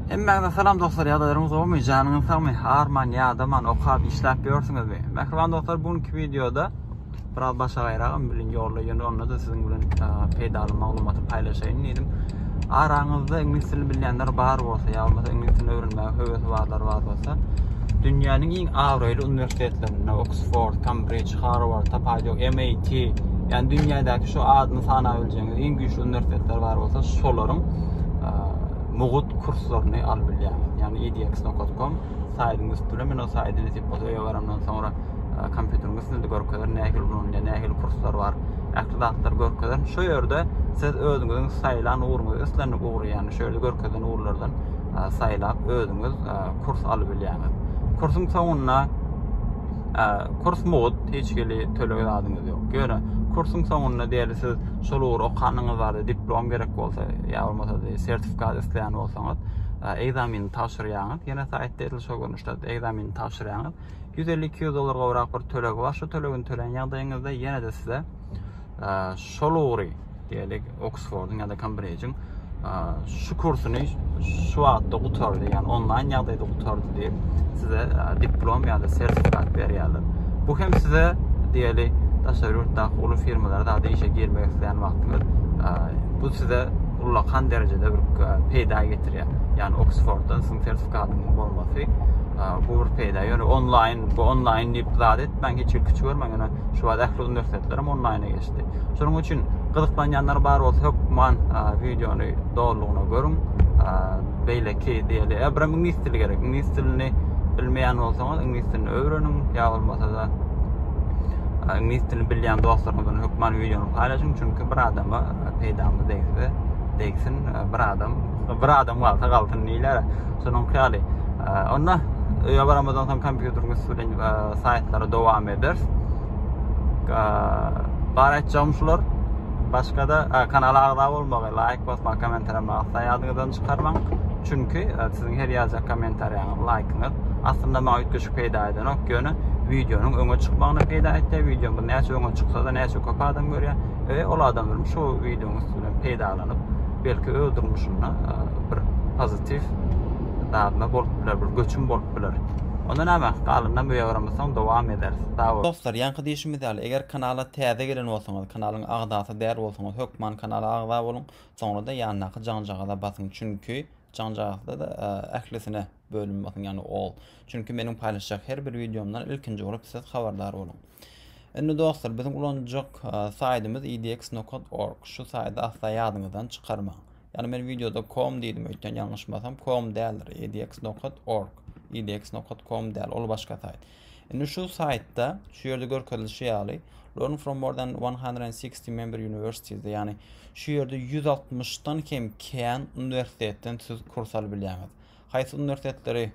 Hemmäňize salam dostlar ýagdaýlaryňyz gowmy janyňyz sagmy arman ýadaman okap işläp ýörsüňizmi mähriban dostlar bu günki wideoda biraz başga gaýragam bilen ýolda ýöne onda da siziň bilen peýdaly maglumaty paýlaşaýyn diýdim araňyzda iňlis dilini bilýänler bar bolsa ýa bolmasa iňlis dilini öwrenmäge höwesi barlar bar bolsa dünýäniň iň abraýly uniwersitetlerinde oksford kambrij harward tapaýy ýok mit ýani dünýädäki şu adyny sanap biljegiňiz iň güýçli uniwersitetler bar bolsa şolaryň mugt kurslaryny alyp bilýäňiz. Ýagny edx.com saýdyň üstüne men o saýda nesip bolsa öýe barandan soňra e, kompýuteriň üstünde görkezer nähili ulanylýar, nähili kurslar bar. Ähli zatlar görkezer. Şu ýerde siz özüňiziň saýlan ugruňyzy islendik ugry, ýagny şu ýerde görkezilen ugurlardan e, saýlap özüňiz e, kurs alyp bilýäňiz. Kursuň soňunda kurs mugut hiç hili töleg zadyňyz ýok. Ýöne kursuň soňunda diýeli siz şol ugry okanyňyz barada diplom gerek bolsa ýa bolmasa sertifikat isleýän bolsaňyz, egzamini tabşyrýaňyz. Ýene saýtda edil şol görnüşde egzamini tabşyrýaňyz. 150-200 dollar gowrak bir tölegi bar. Şu tölegini töleýän ýagdaýyňyzda ýene-de size şol ugry, diýelik, Oksfordyň ýa-da Kembrijiň şu kursuny şu wagtda gutardy, ýagny onlaýn ýagdaýda gutardy diýip, size diplom ýa-da sertifikat berýärler. Bu hem size, diýelik, daşary ýurtdaky uly firmalara zady işe girmek isleýän wagtyňyz bu size ullakan derejede bir peýda getirýär. Ýani Oksforddan siziň sertifikatyňyz bolmasy bu bir peýda. Ýöne onlaýn, bu onlaýn diýip zat etmäň, hiç bir küçük görmäň. Ýöne şu wagt ähli uniwersitetler hem onlaýna geçdi. Şonuň üçin gyzyklanýanlar bar bolsa hökman wideony dolugyna görüň. Beýleki diýeli, bir iňlis dili gerek. Iňlis dilini bilmeýän bolsaňyz, iňlis dilini öwreniň, ýa bolmasa-da iňlis dilini bilýän dostlaryňyz bilen hökman wideony paýlaşyň, çünki bir adama peýdamyz degse degsin bir adam bir adam galsa galsyn diýler şonuň ýaly onda öýe baramyzdan soň kompýuteriň üstü bilen saýtlary dowam ederis bar etjegim şular başga da kanala agza bolmagy laýk basmagy kommentariýa magsa ýadyňyzdan çykarmaň çünki siziň her ýazýan kommentariýaňyz laýkyňyz aslynda maňa üýtgeşik peýda edenok ýöne wideonyň öňe çykmagyna peýda etdi wideomyz näçe öňe çyksa da näçe köp adam görýär we ol adam bilen şu wideonyň üstünden peýdalanyp, belki öz durmuşynda e, bir pozitiw dadma bolup biler, bir göçüm bolup biler. Onda näme? Galyndan bu ýagramysan dowam ederis. Sag bol. Dostlar, ýaňky diýişimiz ýaly, eger kanala täze gelen bolsaňyz, kanalyň agzasy däl bolsaňyz, hökman kanala agza boluň, soňra-da ýandaky jaňjagaza basyň, çünki jaňjagazda-da e, ählisine bölüm basyň, ýagny all. Çünki meniň paýlaşjak her bir wideomdan ilkinji bolup siz habardar boluň. Indi dostlar biziň ulanjak saýtymyz idx.org. Şu saýty asla ýadyňyzdan çykarmaň. Ýani men wideoda com diýdim öýtýän ýalňyşmasam com däldir. idx.org. idx.com däl, ol başga saýt. Indi şu saýtda şu ýerde görkezilişi ýaly Learn from more than 160 member universities ýani şu ýerde 160 dan kem kän uniwersitetden siz kurs alyp bilýäňiz. Haýsy uniwersitetleri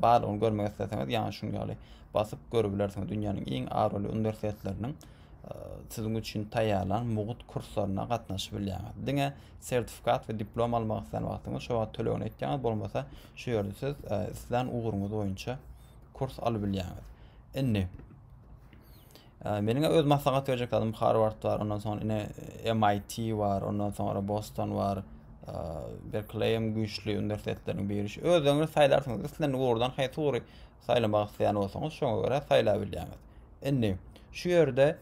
barlygyny görmek isleseňiz, ýaňy şunuň ýaly basyp görübilersiňiz. Dünýäniň iň abraýly uniwersitetleriniň siziň üçin taýýarlan mugt kurslaryna gatnaşyp bilýäňiz. Diňe sertifikat we diplom almak islän wagtyňyz şo wagt tölegini etýäňiz, bolmasa şu ýerde siz islän ugruňyz boýunça kurs alyp bilýäňiz. Indi Meniň öz maslahat berjek zadym Harward bar, ondan soň ine MIT bar, ondan soňra Boston bar, Berkeleyem güýçli uniwersitetlerin biri. Özüňiz saýlarsyňyz, islen ugurdan haýsy ugry saýlamak isleýän bolsaňyz, şoňa görä saýlap bilýäňiz. Indi şu ýerde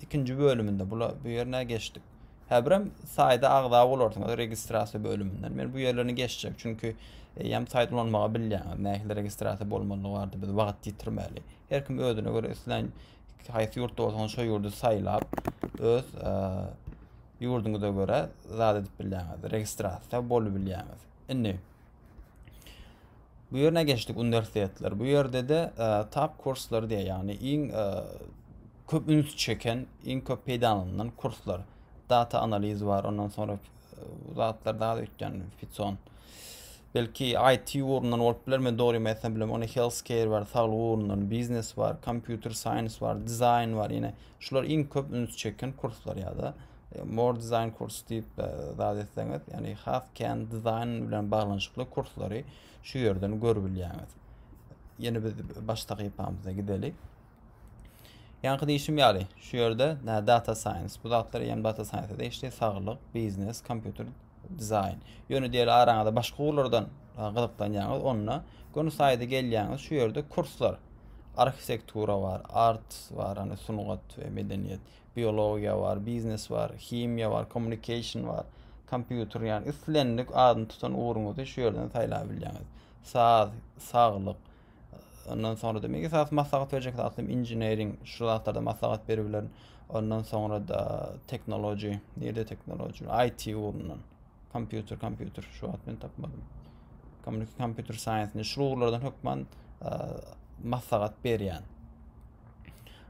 ikinji bölüminde bula bu ýerine geçdik. Häbirem saýda agza bolarsyňyz registrasiýa bölüminden. Men bu ýerlerini geçjek, çünki hem saýt ulanmagy bilýäňiz, nähili registrasiýa bolmalydygy barada biz wagt ýitirmäli. Her kim özüne göre islän haýsy ýurtda bolsaňyz şo ýurdy saýlap, öz ýurduňyza göre zat edip bilýäňiz. Registrasiýa bolup bilýäňiz. Indi bu ýerine geçdik uniwersitetler. Bu ýerde de tap kurslar diýýär, ýagny iň köp üns çeken, iň köp peýdalanylan kurslar. Data analiz bar, ondan sonra Bu zatlar daha ötken Fitson. Belki IT ugrundan bolup biler, men dogry ýetmem bilmem. Ony healthcare bar, saglyk ugrundan, biznes bar, computer science bar, dizaýn bar. Ýene şular iň köp üns çeken kurslar ýa-da e, more design kurs diýip e, zat etseňiz, ýagny has kän dizaýn bilen baglanyşykly kurslary şu ýerden görüp bilýäňiz. Ýene biz baş sahypamyza gidelik. Ýaňky diýişim ýaly, şu ýerde data science, bu zatlar ýem data science degişli saglyk, biznes, kompýuter dizaýn. Ýöne diýeli araňyzda başga ugurlardan gyzyklanýaňyz, onda göni saýda gelýäňiz, şu ýerde kurslar. Arhitektura bar, art bar, ýani sungat we medeniýet, biologiýa bar, biznes bar, himiýa bar, communication bar, kompýuter, ýani islendik adyny tutan ugruňyzy şu ýerden saýlap bilýäňiz. Saz, saglyk, Ondan sonra da men esas maslahat berjek zatym engineering şu zatlarda maslahat berip bilerin. Ondan sonra da technology, nirde technology, IT ugrundan. Kompýuter, kompýuter şu wagt men tapmadym. Kompýuter science, şu ugurlardan hökman maslahat berýän.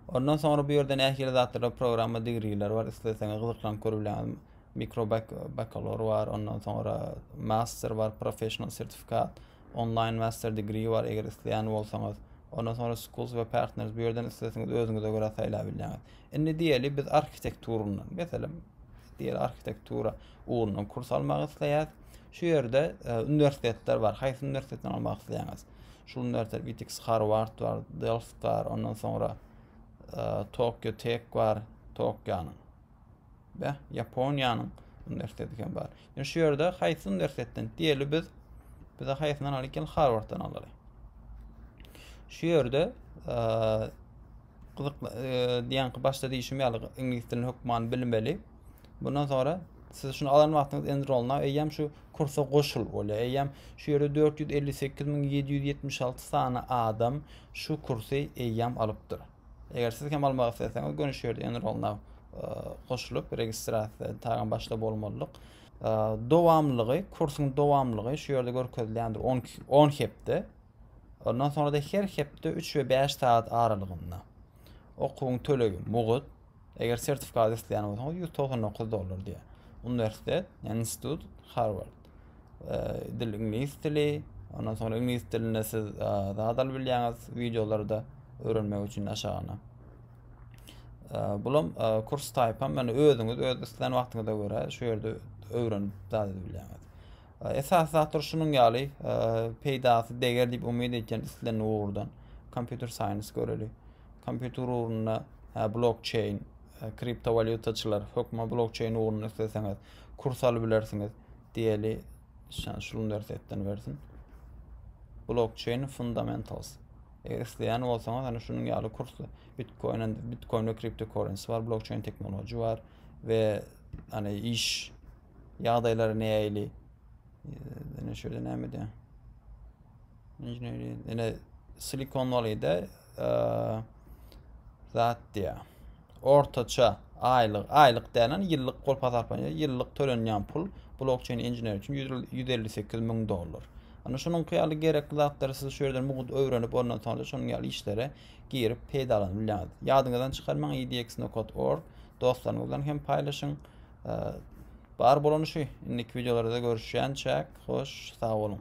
Ondan sonra bu ýerde nähili zatlarda programma digriler bar, isleseňiz gyzyklan görülen mikro bakalor bar, ondan sonra master bar, professional sertifikat. Online Master Degree bar eger isleýän bolsaňyz. Ondan soňra Schools we Partners bu ýerden islesiňiz özüňize görä saýlap bilýäňiz. Indi diýeli biz arhitekturyndan, meselem, diýeli arhitektura ugrundan kurs almak isleýäs. Şu ýerde e, uniwersitetler bar. Haýsy uniwersitetden almak isleýäňiz? Şu uniwersitet Witix Harvard bar, Delft bar, ondan soňra e, Tokyo Tech bar, Tokyonyň. Beh, Ýaponiýanyň uniwersiteti hem bar. Ýöne şu ýerde haýsy uniwersitetden diýeli biz? Bize haýsyndan alyk gel Harvarddan alaly. Şu ýerde gyzykly diýen ki başda diýişim ýaly iňlis dilini hökman bilmeli. Bundan sonra siz şunu alan wagtyňyz enrolna eýýäm şu kursa goşul bolýar. Eýýäm şu ýerde 458.776 sany adam şu kursy eýýäm alypdyr. Eger siz hem almak isleseňiz göni şu ýerde enrollna goşulyp registrasiýa taýdan başda bolmalydyk. Dowamlygy, kursuň dowamlygy şu ýerde görkezilýändir 10 10 hepde. Ondan sonra da her hepde 3 we 5 saat aralygynda. Okuwyň tölegi mugut. Eger sertifikat isleýän bolsaňyz 199 dollar diýýär. Uniwersitet, yani institut Harvard. e, dil iňlis dili. Ondan sonra iňlis dilinde siz e, zat alyp bilýäňiz wideolarda öwrenmek üçin aşagyna. E, bulam e, kurs type hem yani özüňiz öz isleýän wagtyňyza görä şu ýerde öwrenip zat edip bilýäňiz. E, esas zatlar şunuň ýaly e, peýdasy deger diýip umyt edýän islen ugurdan kompýuter science göreli. Kompýuter ugrunda hä blokçeýn, e, kriptowalýutaçylar, hökman blokçeýn ugruny isleseňiz, kurs alyp bilersiňiz diýeli. Şan şul dersetden bersin. Blockchain Fundamentals. Eger isleýän bolsaňyz, hani şunuň ýaly kursy Bitcoin, Bitcoin we cryptocurrency bar, blockchain teknoloji bar ve hani iş ýagdaýlary näýeli? Ýene şöyle näme diýýär? Ýene Silikon Valley'de zat diýä. Ortaça aýlyk, aýlyk dälen ýyllyk pul hasaplanýar. Ýyllyk tölenýän pul blokçeýn inžener üçin 158 müň dollar. Ana şunuňky ýaly gerekli zatlary siz şu ýerden mugut öwrenip ondan soňra şonuň ýaly işlere girip peýdalanyp bilýäňiz. Ýadyňyzdan çykarmaň edxnokod.org dostlaryňyz bilen hem paýlaşyň. Bar bolany şu. Indiki videolarda görüşýänçäk. Hoş, sag boluň.